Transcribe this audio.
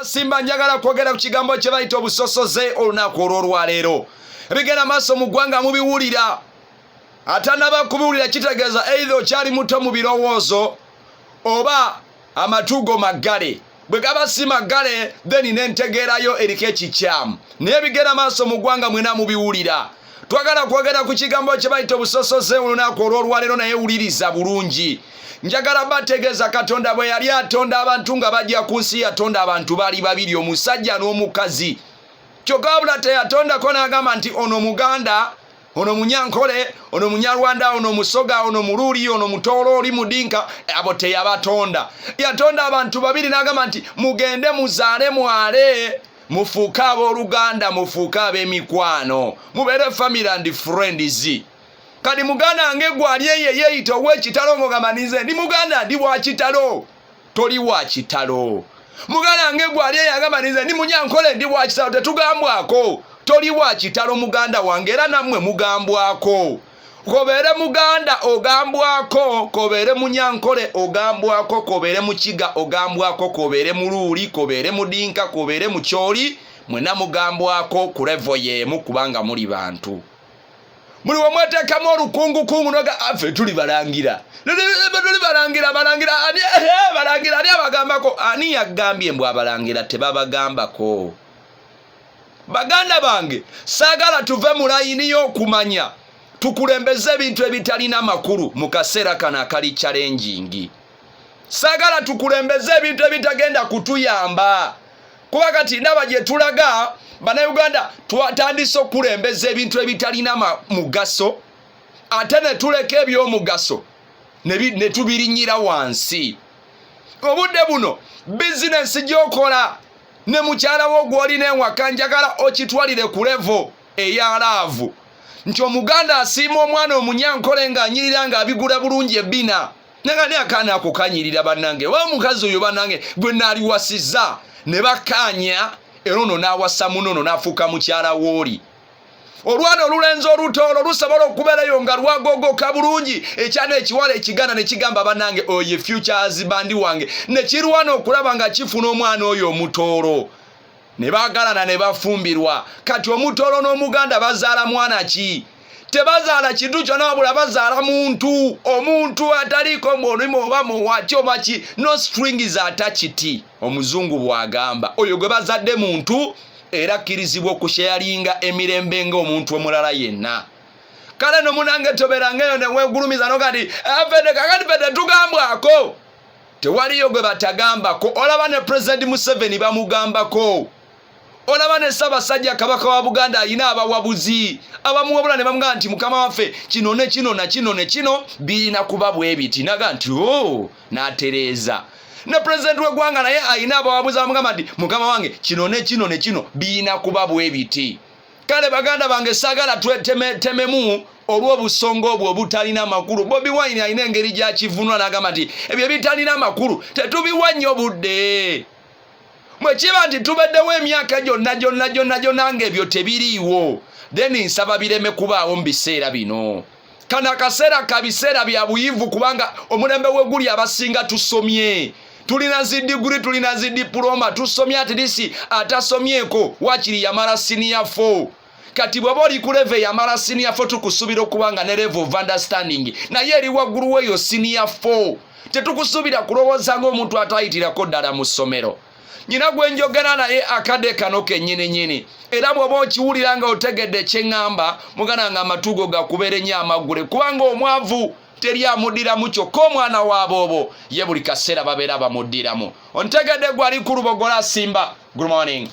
Simba njagala kwogera ku kigambo kye bayita obusosoze olunaku olw'olwaleero ebigenda maaso mu ggwanga mubiwulira atanaba kubiwulira kitegeeza eitha okyali muto mu birowoozo oba amatugo maggale bwe gaba si maggale then nentegeerayo eriko ekikyamu naye ebigenda maaso mu ggwanga mwena mubiwulira twagala kwogera ku kigambo kye bayita obusosoze olunaku olw'olwaleero naye wuliriza bulungi njagala bategeeza katonda bwe yali atonda abantu nga bajja ku nsi yatonda abantu bali babiri omusajja n'omukazi kyokka wabula teyatondako n'agamba nti ono muganda ono munyankole ono munyarwanda ono musoga ono muluuli ono mutoolo oli mudinka abo teyabatonda yatonda abantu babiri n'agamba nti mugende muzaale mwale mufuuke abooluganda mufuuke ab'emikwano mubeere family and friends kati muganda nge gwali eyo eyeyita owekitalo ngogamba ninze ndi muganda ndi wakitalo toli wakitalo muganda nge gwali eyo agamba ninze ndi munyankole ndi wakitalo tetugambwako toli wakitalo muganda wange era nammwe mugambwako kobeere muganda ogambwako kobeere munyankole ogambwako kobeere mukiga ogambwako kobeere muluuli kobeere mudinka kobeere mukyoli mwena mugambwako ku revo yeemu kubanga muli bantu muli wamwetekamu olukungukungu noga afe ah, tuli balangira tuli balangira balangira balangira ani abagambako ani yagambye mbu abalangira tebabagambako baganda bange saagala tuve mu layini y'okumanya tukulembeze ebintu ebitalina makulu mu kaseera kano akali kyalenjingi saagala tukulembeze ebintu ebitagenda kutuyamba kuba kati ndaba gye tulaga bannayuganda twatandise okukulembeza ebintu ebitalina mugaso ate ne tuleka ebyomugaso ne tubirinyira wansi obudde buno bizinensi gyokola ne mukyala wo gw'olina ewaka njagala okitwalire ku levo eya laavu nti omuganda asiima omwana omunyankole ng'anyirira ng'abigula bulungi ebbina naga ne akaana ako kanyirira bannange oba omukazi oyo bannange gwe naaliwasiza ne bakkaanya era ono n'awasa muno ono n'afuuka mukyala wooli olwana olulenzi olutoolo lusobola okubeerayo nga lwagogoka bulungi ekyana ekiwala ekiganda ne kigamba banange oyo efutures bandi wange ne kirwana okulaba nga kifuna omwana oyo omutoolo ne baagalana ne bafumbirwa kati omutoolo n'omuganda bazaala mwana ki tebazaala kintu kyona wabula bazaala muntu omuntu ataliiko mulimu oba muwaki oba ki no string zatachiti omuzungu bwagamba oyo gwe bazadde muntu era kkirizibwa okusheyalinga emirembe ng'omuntu omulala yenna kale no munange toberangaeyo newegulumiza noga nti afede eh, kakati fede tugambwako tewaliyo gwe batagambako olaba ne pulezidenti museveni bamugambako olaba ne ssaabasajja kabaka wa buganda alina abawabuzi abamuwabula ne bamugaa nti mukama waffe kino ne kino na kino ne kino birina kuba bwebiti naga nti o oh, n'atereeza ne pulezidenti w'eggwanga naye alina abawabuzi abamugamba nti mukama wange kino ne kino ne kino birina kuba bwe biti kale baganda bange saagala twetememu olw'obusonga obwo obutalina makulu bobi wine alina engeri gyakivunula n'agamba nti ebyo bitalina makulu tetubiwa nnyo budde bwe kiba nti tubaddewo emyaka gyonna gyonna gyonna gyonna ng'ebyo tebiriiwo then nsaba bireme kubaawo mu biseera bino kano akaseera ka biseera bya buyivu kubanga omulembe weguli abasinga tusomye tulina zi diguri tulina zi dipuloma tusomye atirisi atasomyeko wakiri yamala siniya fo kati bwaba oli ku leve yamala siniya fo tukusubira okuba nga ne leve of understanding naye eri waggulu weeyo siniya fo tetukusuubira kulowooza ngaomuntu atayitirako ddala mu ssomero nyina gwe njogera naye akade kano kenyini nyini era bwoba okiwulira nga otegedde kyeŋŋamba mugana nga amatugo gakubeera ennyo amaggule kubanga omwavu teri amuddiramu kyokka omwana waaboobo ye buli kaseera babeera bamuddiramu ontegedde gwali ku lubogola simba good morning